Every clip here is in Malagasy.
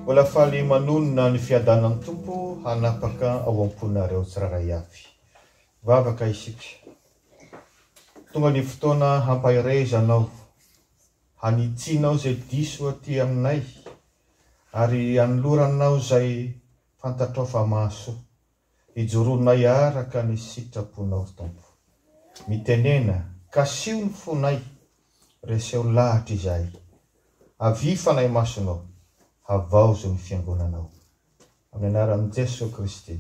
Mbola faly manonona ny fiadanan'ny Tompo hanapaka ao am-ponareo tsirairay avy. Vavaka isika. Tonga ny fotoana hampaherezanao, hanitsianao izay diso aty aminay, ary hanoloranao izay fantatrao fa mahasoa. Hijoronay araka ny sitraponao ry Tompo. Mitenena, Kasiho ny fonay, reseho lahatra izahay. Avia Fanahy Masonao, havaozo ny Fiangonanao. Amin'ny anaran'i Jesoa Kristy.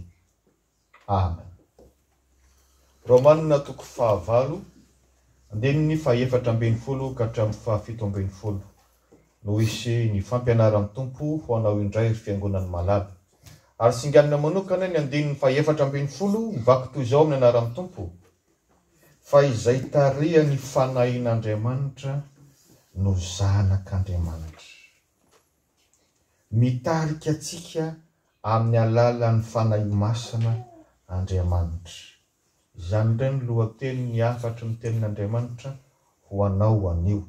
Amen. Romanina toko fahavalo, andininy fahaefatra ambin'ny folo ka hatramin'ny fahafito ambin'ny folo. no hisy ny fampianaran'ny Tompo ho anao indray ry fiangonan'i Malala. Ary singanina manokana ny andininy fahefatra ambin'ny folo mivaky toy izao amin'ny anaran'ny Tompo, Fa izay tarihan'ny fanahin'Andriamanitra no zanak'Andriamanitra. Mitarika antsika amin'ny alalan'ny Fanahy Masina Andriamanitra. Izany indray no lohateny ny hafatry ny tenin'Andriamanitra ho anao anio.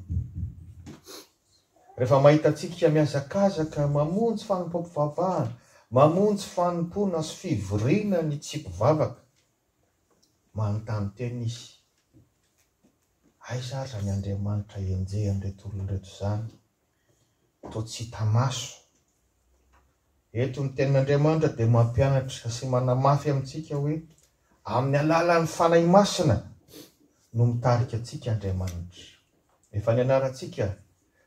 Rehefa mahita antsika mihazakazaka mamonjy fanompoam-pivavahana, mamonjy fanompoana sy fivoriana ny tsy mpivavaka, manontany tena izy, Aiza ary izany Andriamanitra enjehan'ireto olona ireto izany? toa tsy hita maso. Eto ny Tenin'Andriamanitra dia mampianatra sy manamafy amintsika hoe amin'ny alalan'ny Fanahy Masina no mitarika antsika Andriamanitra. Efa nianarantsika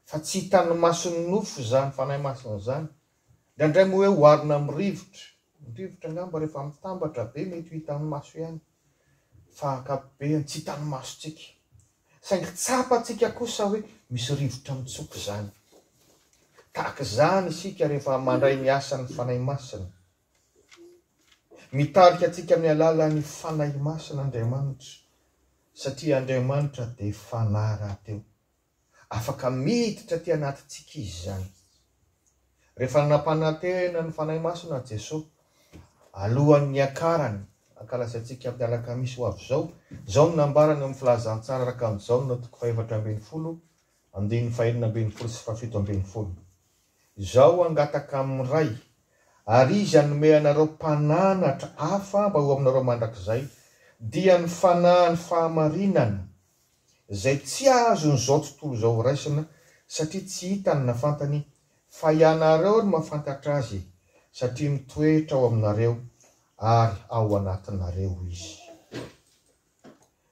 fa tsy hitan'ny mason'ny nofo izany Fanahy Masina izany. Indraindray moa hoe oharina amin'ny rivotra. Ny rivotra angamba rehefa mitambatra be mety ho hitan'ny maso ihany fa ankapobeny tsy hitan'ny masontsika. Saingy tsapantsika kosa hoe misy rivotra mitsoka izany. Tahaka izany isika rehefa mandray ny asan'ny Fanahy Masina. Mitarika antsika amin'ny alalan'ny Fanahy Masina Andriamanitra, satria Andriamanitra dia Fanahy rahateo. Afaka miditra aty anatintsika Izy izany. Rehefa nampanantena ny Fanahy Masina Jesoa, alohan'ny hiakarany hankalazatsika amin'ny alakamisy ho avy izao, izao no nambarany ao amin'ny Filazantsara Rakanto Jaona toko fahefatra ambin'ny folo, andininy fahenina ambin'ny folo sy fahafito ambin'ny folo, Izaho hangataka amin'ny Ray, ary Izy hanome anareo mpananatra hafa mba ho aminareo mandrakizay, dia ny Fanahiny fahamarinana, izay tsy azon'izao tontolo izao horaisina satria tsy hitany na fantany fa ianareo no mahafantatra azy satria mitoetra ao aminareo ary ao anatinareo izy.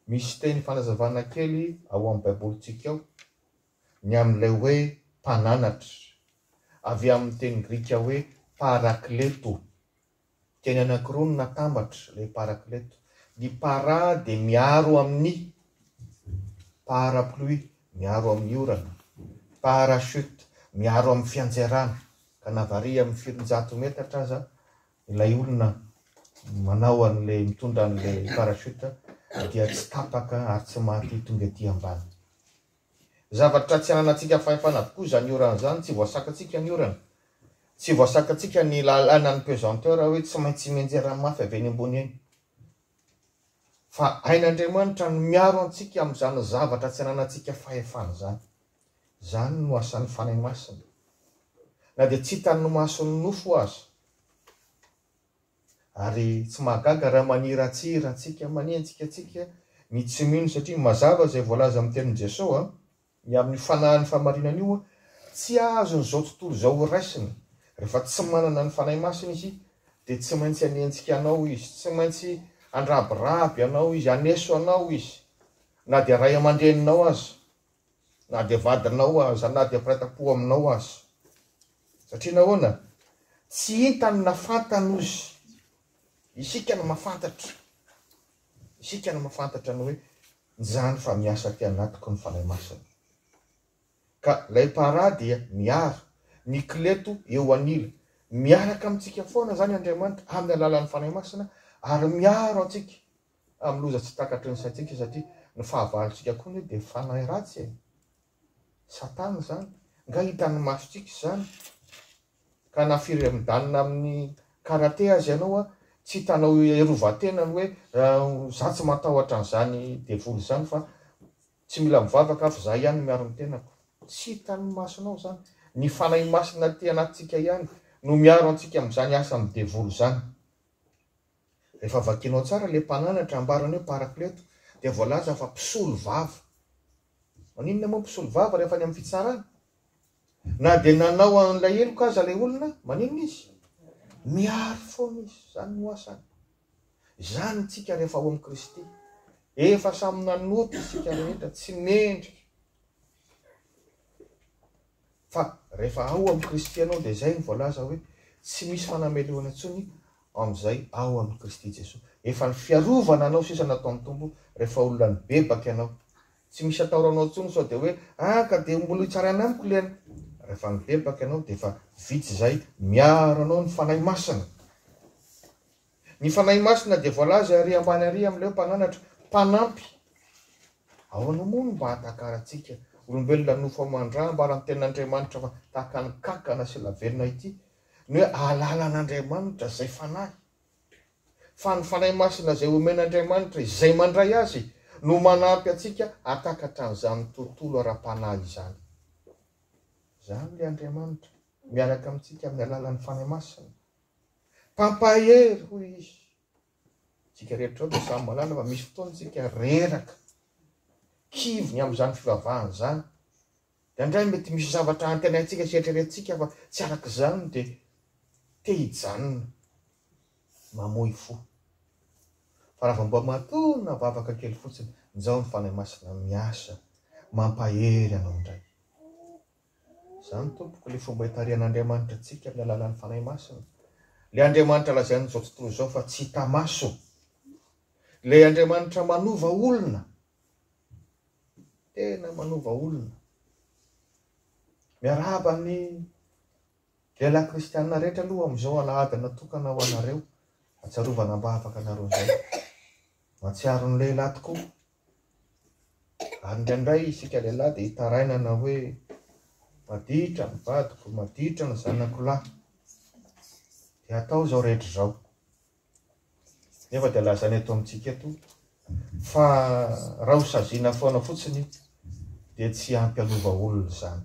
Misy teny fanazavana kely ao amin'ny Baibolintsika ao ny amin'ilay hoe mpananatra, avy amin'ny teny grika hoe parakleto. Teny anankiroa no natambatra ilay parakleto. Ny para dia miaro amin'ny parapluie, miaro amin'ny orana, parachute, miaro amin'ny fiantserana, ka na variana amin'ny firinjato metatra aza ilay olona manao an'ilay, mitondra an'ilay parachute dia tsy tapaka ary tsy maty tonga ety ambany. Zavatra tsy ananantsika fahefana avokoa izany orana izany, tsy voasakantsika ny orana, tsy voasakantsika ny lalanan'ny pesanteur hoe tsy maintsy mianjera mafy avy eny ambony eny. Fa hain'Andriamanitra ny miaro antsika amin'izany zavatra tsy ananantsika fahefana izany. Izany no asan'ny Fanahy Masina. Na dia tsy hitan'ny mason'ny nofo aza. Ary tsy mahagaga raha maniratsira antsika, manenjika antsika ny tsy mino satria mazava izay voalaza amin'ny tenin'i Jesoa ny amin'ny fanahin'ny fahamarinana io, tsy azony izao tontolo izao horaisina. Rehefa tsy manana ny Fanahy Masina izy dia tsy maintsy hanenjika anao izy, tsy maintsy handrabiraby anao izy, haneso anao izy na dia ray aman-dreninao aza. na dia vadinao aza, na dia mpiray tam-po aminao aza. Satria nahoana? Tsy hitany na fantany ozy. Isika no mahafantatra. Isika no mahafantatra ny hoe izany fa miasa aty anatiko ny Fanahy Masina. Ka ilay Para dia miaro, mikleto eo anila. Miaraka amintsika foana izany Andriamanitra amin'ny alalan'ny Fanahy Masina ary miaro antsika. amin'ny loza tsy takatry ny saintsika satria ny fahavalontsika koa anie dia fanahy ratsy e! Satana izany, nga hitan'ny masontsika izany? Ka na firy midanina amin'ny karate aza ianao a, tsy hitanao hiarovan-tena ny hoe za tsy matahotra an'izany devoly izany fa tsy mila mivavaka aho fa za ihany no miaro ny tenako. Tsy hitan'ny masonao izany? Ny fanahy masina aty anatintsika ihany no miaro antsika amin'izany asan'ny devoly izany. Rehefa vakianao tsara ilay mpananatra, ambarany hoe Parakleto, dia voalaza fa mpisolo vava. Maninona moa ny mpisolo vava rehefa any amin'ny fitsarana? Na dia nanao an'ilay heloka aza ilay olona, maninona izy? Miaro foana izy. Izany no asany. Izany isika rehefa ao amin'i Kristy. Efa samy nanota isika rehetra, tsy mendrika. Fa rehefa ao amin'i Kristy ianao dia izay no voalaza hoe tsy misy fanamelohana intsony amin'izay ao amin'i Kristy Jesoa. Efa ny fiarovana anao sisa nataon'ny Tompo rehefa olona nibebaka ianao. Tsy misy ataoranao intsony sao dia hoe ah ka dia mbola hitsaraina amiko ilay an. Rehefa nibebaka ianao dia efa vitsy izay miaro anao ny Fanahy Masina. Ny Fanahy Masina dia voalaza ary ambany ary amin'ilay hoe Mpananatra, Mpanampy. Ahoana moa no mba ahatakarantsika, olombelona nofo aman-dra, hambaran' ny Tenin'Andriamanitra fa tahaka ny kankana sy lavenona ity, ny hoe ahalala an'Andriamanitra, izay Fanahy? Fa ny Fanahy Masina izay omen'Andriamanitra izay mandray Azy no manampy antsika hahatakatra an'izany tontolo ara-panahy izany. Izany ilay Andriamanitra miaraka amintsika amin'ny alalan'ny Fanahy Masina. Mpampahery, hoy izy. Isika rehetra izao dia samy mahalala fa misy fotoana isika reraka, kivy ny amin'izany fivavahana izany. Indraindray mety misy zavatra antenaintsika sy eritreretintsika fa tsy araka izany dia te hijanona, mamoy fo. Fa raha vao mba matoa navavaka kely fotsiny, njao ny Fanahy Masina miasa, mampahery anao indray. Izany, tompoko, ilay fomba itarihan'Andriamanitra antsika amin'ny alalan'ny Fanahy Masina. Ilay Andriamanitra lazain'izao tontolo izao fa tsy hita maso. Ilay Andriamanitra manova olona. Tena manova olona. Miarahaba ny lehilahy kristianina rehetra aloha amin'izao alahady natokana ho anareo. Atsarovana mba afaka anareo izay. Matsiaro ny lehilahy tokoa. Ary indraindray isika lehilahy dia itarainana hoe maditra ny vadiko, maditra ny zanako lahy. Dia atao izao rehetra izao. Nefa dia lazaina eto amintsika eto fa raha ho saziana foana fotsiny dia tsy ampy anova olona izany.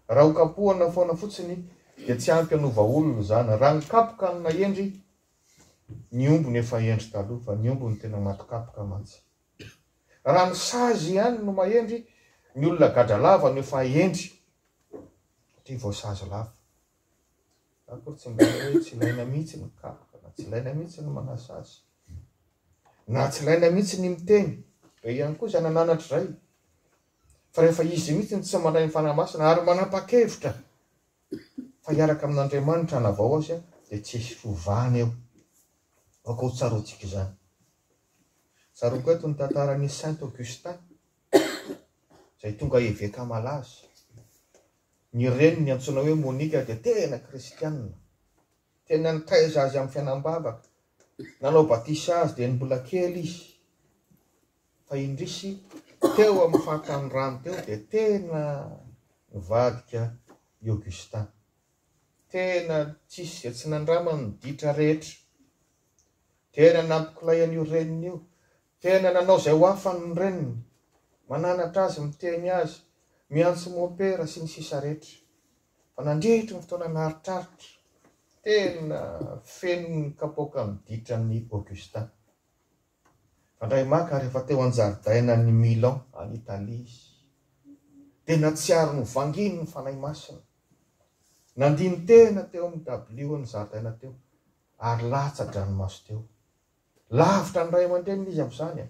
Raha ho kapohana foana fotsiny dia tsy ampy anova olona izany. Raha ny kapoka amina hendry Ny omby no efa hendry taloha fa ny omby no tena maty kapoka mantsy. Raha ny sazy ihany no mahendry, ny olona gadra lava no efa hendry satria voasazy lava. Za akory tsy mba hoe tsy ilaina mihitsy ny kapoka na tsy ilaina mihitsy ny manasazy. Na tsy ilaina mihitsy ny miteny. Be ihany koa izay nananatra izay. Fa rehefa izy mihitsy no tsy mandray ny Fanahy Masina ary manapa-kevitra fa hiaraka amin'Andriamanitra hanavao azy dia tsy hisy fiovana eo. Aoka ho tsaroantsika izany. Tsaroako eto ny tantaran'i Saint Augustin, izay tonga eveka malaza. Ny reniny antsoina hoe Monica dia tena kristianina. Tena nitaiza azy amin'ny fiainam-bavaka. Nanao batisa azy dia ny mbola kely izy. Fa indrisy, teo amin'ny faritany rano teo dia tena nivadika i Augustin. Tena tsisy izay tsy nandramany ny ditra rehetra. Tena nampikilay an'io reniny io. Tena nanao izay ho afany ny reniny. Mananatra azy, miteny azy, miantso mompera sy ny sisa rehetra. Fa nandritry ny fotoana naritraritra, tena feno ny kapoaka ny ditran'i Augustin. Fandray maka ary efa teo an-jaridainan'i Milan, any Italia, izy. Dia nahatsiaro novanginy ny Fanahy Masina. Nandini-tena teo amin'ny dabilion'ny zaridaina teo, ary latsa-dranomaso teo. Lavitra ny ray aman-dreniny izy amin'izany.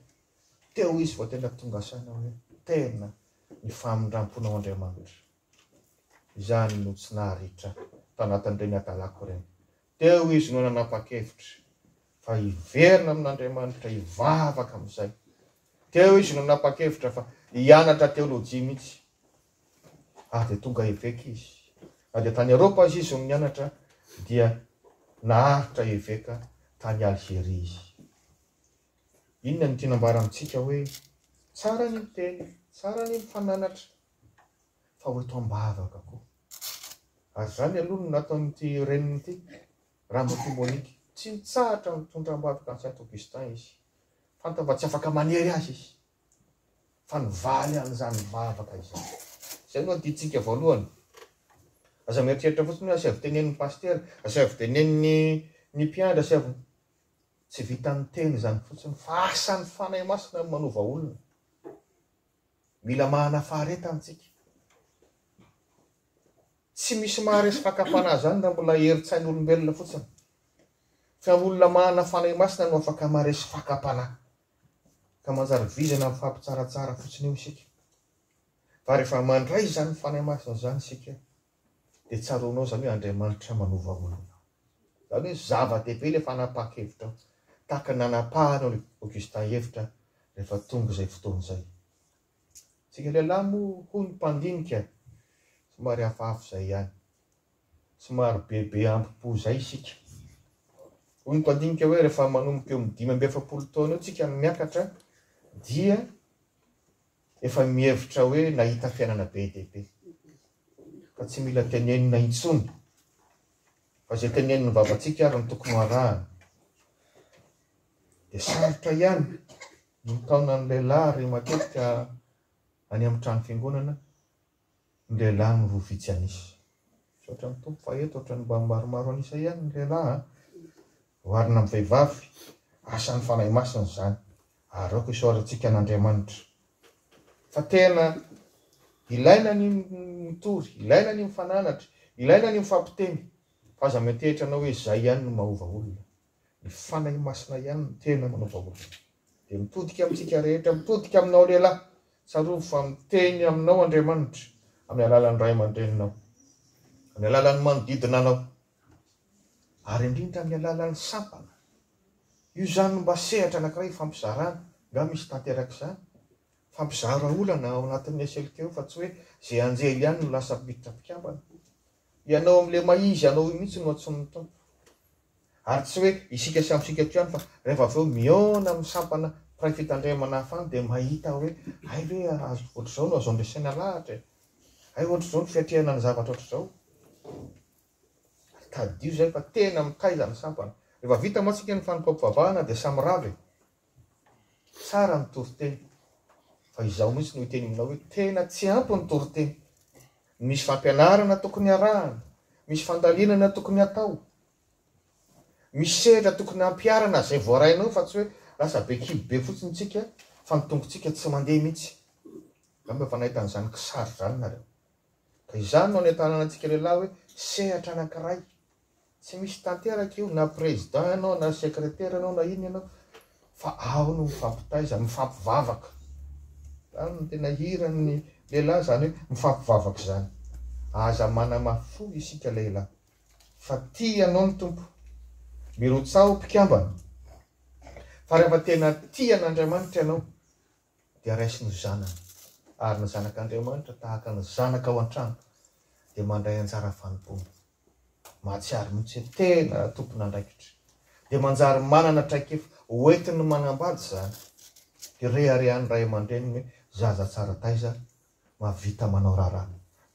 Teo izy vao tena tonga saina hoe, Tena ny famindram-ponao Andriamanitra. Izany no tsy naharitra tanatin'ireny adalako ireny. Teo izy no nanapa-kevitra fa hiverina amin'Andriamanitra, hivavaka amin'izay. Teo izy no nanapa-kevitra fa hianatra teolojia mihitsy. Ary dia tonga eveka izy. Na dia tany Eropa aza izy no nianatra, dia naharitra eveka tany Algeria izy. Inona no tiana ambara amintsika hoe, tsara ny miteny, tsara ny mifananatra, fa ho eto am-bavaka koa. Ary izany aloha no nataon'ity reniny ity, Ramatoa Monique. Tsy nitsahatra nitondra am-bavaka an'i Saint Augustin izy. Fantany fa tsy afaka manery azy izy, fa nivaly an'izany vavaka izany. Izay no adintsika voalohany. Aza mieritreritra fotsiny hoe asaivo tenenin'ny pasitera, asaivo tenenin'ny ny mpiandry, asaivo. Tsy vitan'ny teny izany fotsiny, fa asan'ny Fanahy Masina ny manova olona. Mila mahana faharetana tsika. Tsy misy maharesy fakam-panahy zany raha mbola herin-tsain'olombelona fotsiny. Fa olona mahana fanahy masina no afaka maharesy fakam-panahy. Ka manjary vizana amin'ny fampitsaratsara fotsiny eo isika. Fa rehefa mandray izany fanahy masina izany isika, dia tsaroanao izany hoe Andriamanitra manova olona. Izany hoe zava-dehibe ilay fanapahan-kevitra ao, tahaka ny nanapahan'i Augustin hevitra rehefa tonga izay fotoana izay. Isika lehilahy moa hono mpandinika somary hafahafa izay ihany. Somary bebe ambo-po izay isika. Hoy ny mpandinika hoe rehefa manomboka eo amin'ny dimy amby efapolo taona eo isika no miakatra dia efa mihevitra hoe nahita fiainana be dia be. ka tsy mila tenenina intsony, fa izay tenenin'ny vavantsika ary no tokony ho arahana. Dia sarotra ihany ny mitaona ny lehilahy ary matetika any amin'ny trano fiangonana ny lehilahy no roa vitsy an'isa. Misaotra ny Tompo fa eto ohatran'ny mba maromaro an'isa ihany ny lehilahy. Oharina amin'ny vehivavy, asan'ny Fanahy Masina izany, ary aoka isaorantsika an'Andriamanitra. Fa tena ilaina ny mitory, ilaina ny mifananatra, ilaina ny mifampiteny, fa aza miantehitra anao hoe izay ihany no mahova olona. Ny Fanahy Masina ihany no tena manova olona. Dia mitodika amintsika rehetra, mitodika aminao lehilahy, tsarovy fa miteny aminao Andriamanitra, amin'ny alalan'ny ray aman-dreninao, amin'ny alalan'ny manodidina anao. ary indrindra amin'ny alalan'ny sampana. Io izany no mba sehatra anankiray ifampizarana. Nga misy tanterak'izany? Fa mpizara olana ao anatin'ny SLK io fa tsy hoe ze anjely ihany no lasa miditra mpikambana. Ianao amin'ilay maha izy anao io mihitsy no antson'ny Tompo. Ary tsy hoe isika samy isika eto ihany fa rehefa avy eo mihaona amin'ny sampana mpiray fitandremana hafa any dia mahita hoe hay ve ohatr'izao no azo andresena lahatra e! Hay ohatr'izao ny fiatrehana ny zavatra ohatr'izao. Tadidio izay fa tena mitaiza ny sampana. Rehefa vita moa tsika ny fanompoam-pivavahana dia samy rava e! Tsara ny toriteny fa izaho mihitsy no hiteny aminao hoe tena tsy ampy ny toriteny. Misy fampianarana tokony harahana, misy fandalinana tokony hatao, misy sehatra tokony hampiharana izay voarainao fa tsy hoe lasa be kibo be fotsiny tsika fa ny tongotsika tsy mandeha mihitsy. Angamba efa nahita an'izany kisary izany nareo. Ka izany no any an-tanana antsika lehilahy hoe sehatra anankiray. Tsy misy tanteraka io na président ianao na secrétaire ianao na inona ianao fa ao no mifampitaiza, mifampivavaka. Izany no tena hiran'ny lehilahy izany hoe mifampivavaka izany. Aza manamafy fo isika lehilahy fa tia anao ny Tompo. Mirotsaho mpikambana fa rehefa tena tia an'Andriamanitra ianao dia raiso ny zanany, ary ny zanak' Andriamanitra, tahaka ny zanaka ao an-trano, dia mandray anjara fanompoana. Mahatsiaro mihitsy hoe tena tompon'andraikitra, dia manjary manana traikefa hoentiny manambady izany. Dia reharehan'ny ray aman-dreniny hoe, Zaza tsara taiza mahavita manao raharaha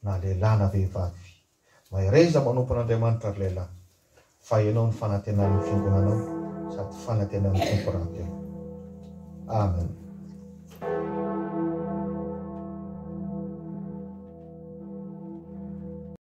na lehilahy na vehivavy. Mahereza manompo an'Andriamanitra ry lehilahy fa ianao no fanantenan'ny fiangonanao sady fanantenan'ny Tompo rahateo. Amen.